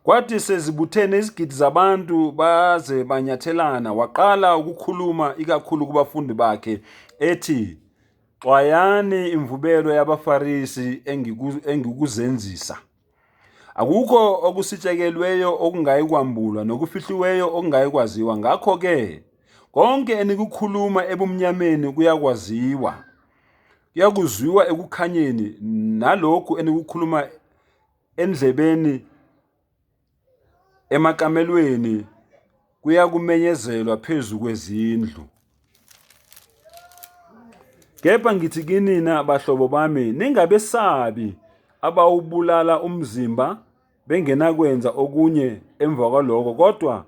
Kwathi sezibuthene izigidi zabantu baze banyathelana, waqala ukukhuluma ikakhulu kubafundi bakhe ethi, Xwayani imvubelo yabaFarisi engikuzenzisa. Akukho okusitshekelweyo okungayi kwambulwa nokufihliweyo okungayi kwaziwa. Ngakho-ke konke enikukhuluma ebumnyameni kuyakwaziwa, Kuyakuzwiwa ekukhanyeni nalokhu enikukhuluma endlebeni emakamelweni kuyakumenyezelwa phezu kwezindlu. Kepha ngithi kinina bahlobo bami ningabesabi abawubulala umzimba bengenakwenza okunye emva kwaloko kodwa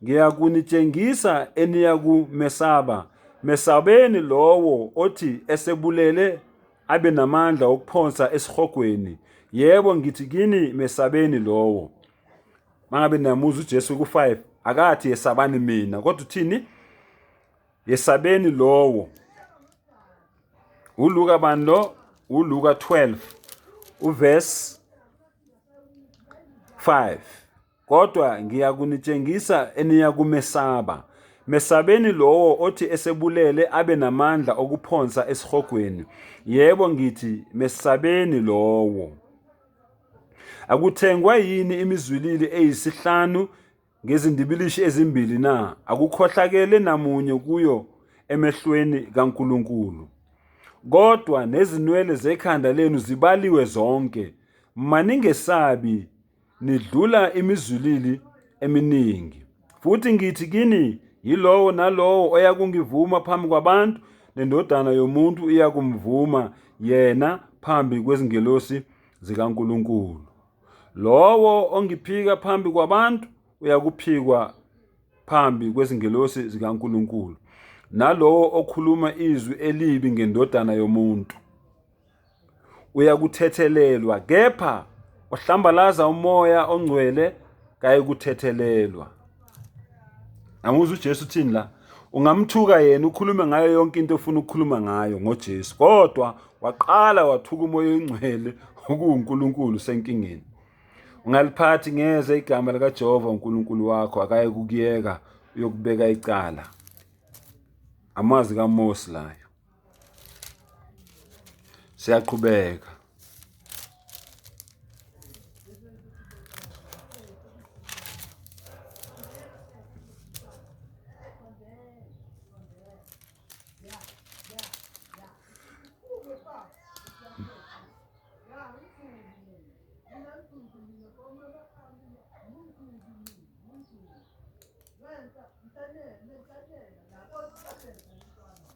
ngiyakunitshengisa eniyakumesaba mesabeni lowo othi esebulele abe namandla okuphonsa esihogweni yebo ngithi kini mesabeni lowo mangabe niyamuzwa uJesu ku5 akathi yesabani mina kodwa uthini Yesabeni lowo. ULuka bani lo? ULuka 12 uverse 5. Kodwa ngiyakunitshengisa eniyakumesaba. Mesabeni lowo othi esebulele abe namandla okuphonsa esihogweni. Yebo ngithi mesabeni lowo. Akuthengwa yini imizwilili eyisihlanu ngezindibilishi ezimbili na? Akukhohlakele namunye kuyo emehlweni kaNkulunkulu. Kodwa nezinwele zekhanda lenu zibaliwe zonke. Maningesabi, nidlula imizulili eminingi. Futhi ngithi kini, yilowo nalowo oyakungivuma phambi kwabantu, nendodana yomuntu iyakumvuma yena phambi kwezingelosi zikaNkulunkulu. Lowo ongiphika phambi kwabantu uyakuphikwa phambi kwezingelosi zikaNkulunkulu, nalowo okhuluma izwi elibi ngendodana yomuntu uyakuthethelelwa, kepha ohlambalaza umoya ongcwele kayikuthethelelwa. Anguzwa uJesu uthini la? Ungamthuka yena ukhulume ngayo yonke into ofuna ukukhuluma ngayo ngoJesu. Kodwa waqala wathuka umoya oyingcwele okuwuNkulunkulu senkingeni. Ungaliphathi ngeze igama likaJehova uNkulunkulu wakho akaye kukuyeka uyokubeka icala. Amazwi kaMosi layo. siyaqhubeka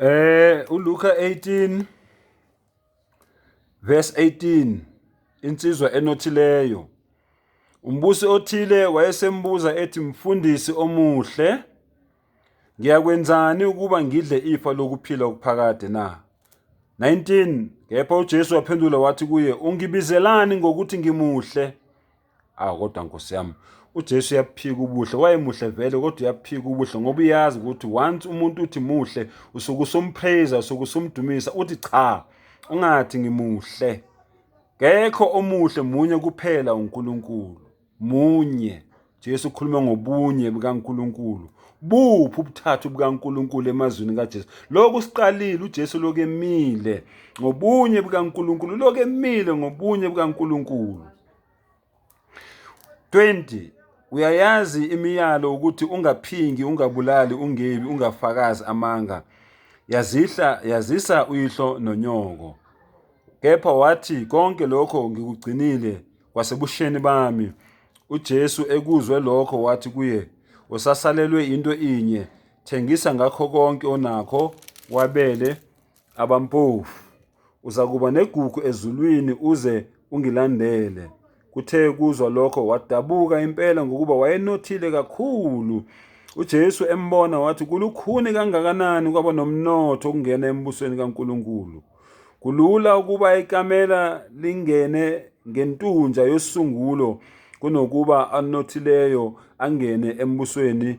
Eh uLuka 18 verse 18 insizwa enothileyo umbusi othile wayesembuza ethi mfundisi omuhle ngiyakwenzani ukuba ngidle ifa lokuphila okuphakade na 19 kepha uJesu waphendula wathi kuye ungibizelani ngokuthi ngimuhle aw ah, kodwa nkosi yami uJesu uyaphika ubuhle wayemuhle vele kodwa uyaphika ubuhle ngoba uyazi ukuthi once umuntu uthi muhle usuke usumpraise usuke usumdumisa uthi cha ungathi ngimuhle kekho omuhle munye kuphela uNkulunkulu munye Jesu ukhuluma ngobunye bukaNkulunkulu buphi ubuthathu bukaNkulunkulu emazwini kaJesu lokhu siqalile uJesu lokemile ngobunye bukaNkulunkulu lokemile ngobunye bukaNkulunkulu 20 uyayazi imiyalo ukuthi ungaphingi ungabulali ungebi ungafakazi amanga yazihla yazisa uyihlo nonyoko kepha wathi konke lokho ngikugcinile kwasebusheni bami uJesu ekuzwe lokho wathi kuye usasalelwe into inye thengisa ngakho konke onakho wabele abampofu. Uzakuba negugu ezulwini uze ungilandele. Kuthe kuzwa lokho wadabuka impela ngokuba wayenothile kakhulu. UJesu embona wathi kulukhuni kangakanani kwaba nomnotho ukungena embusweni kaNkulunkulu. Kulula ukuba ikamela lingene ngentunja yosungulo kunokuba anothileyo angene embusweni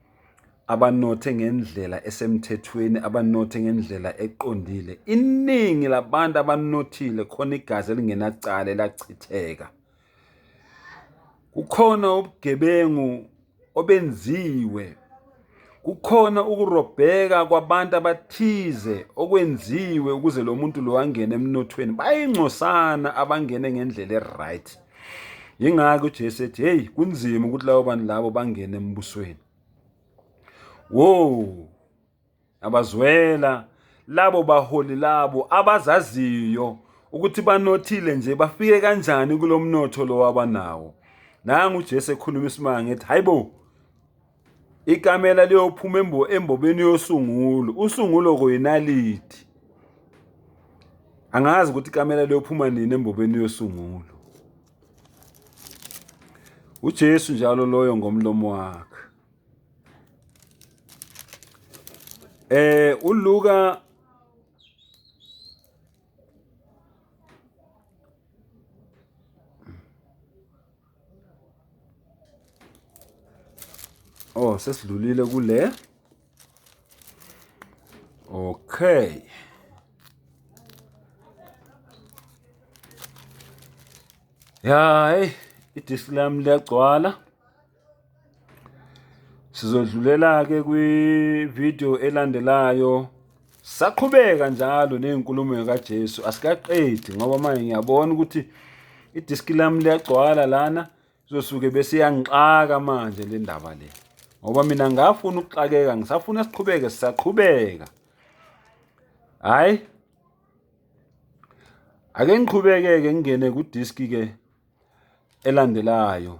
abanothe ngendlela esemthethweni abanothe ngendlela eqondile iningi labantu abanothile khona igazi elingenacala elachitheka kukhona ubugebengu obenziwe kukhona ukurobheka kwabantu abathize okwenziwe ukuze lo muntu lo angene emnothweni bayingcosana abangene ngendlela e-right yingakho uJesu ethi hey kunzima ukuthi labo bantu labo bangene embusweni wo abazwela labo baholi labo abazaziyo ukuthi banothile nje bafike kanjani kulomnotho lo wabanawo nangu uJesu ekhuluma isimanga ethi hayibo Ikamela liyophuma embo embobeni yosungulo. Usungulo koyinaliti. Angazi ukuthi ikamela liyophuma nini embobeni yosungulo. UJesu njalo loyo ngomlomo wakhe. Eh uLuka Oh sesidlulile kule. Okay. Ya, hey, idisk lami liyagcwala. Sizodlulela-ke kwi-video elandelayo saqhubeka njalo ney'nkulumo kaJesu asikaqedi ngoba manje ngiyabona ukuthi idiski lami liyagcwala lana izosuke bese iyangixaka manje le ndaba le ngoba mina ngafuna ukuxakeka ngisafuna siqhubeke sisaqhubeka hhayi ake ngiqhubeke-ke ngingene kudiski-ke elandelayo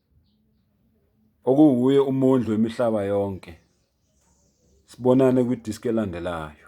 Okunguye umondli wemihlaba yonke. Sibonane kwidiski elandelayo.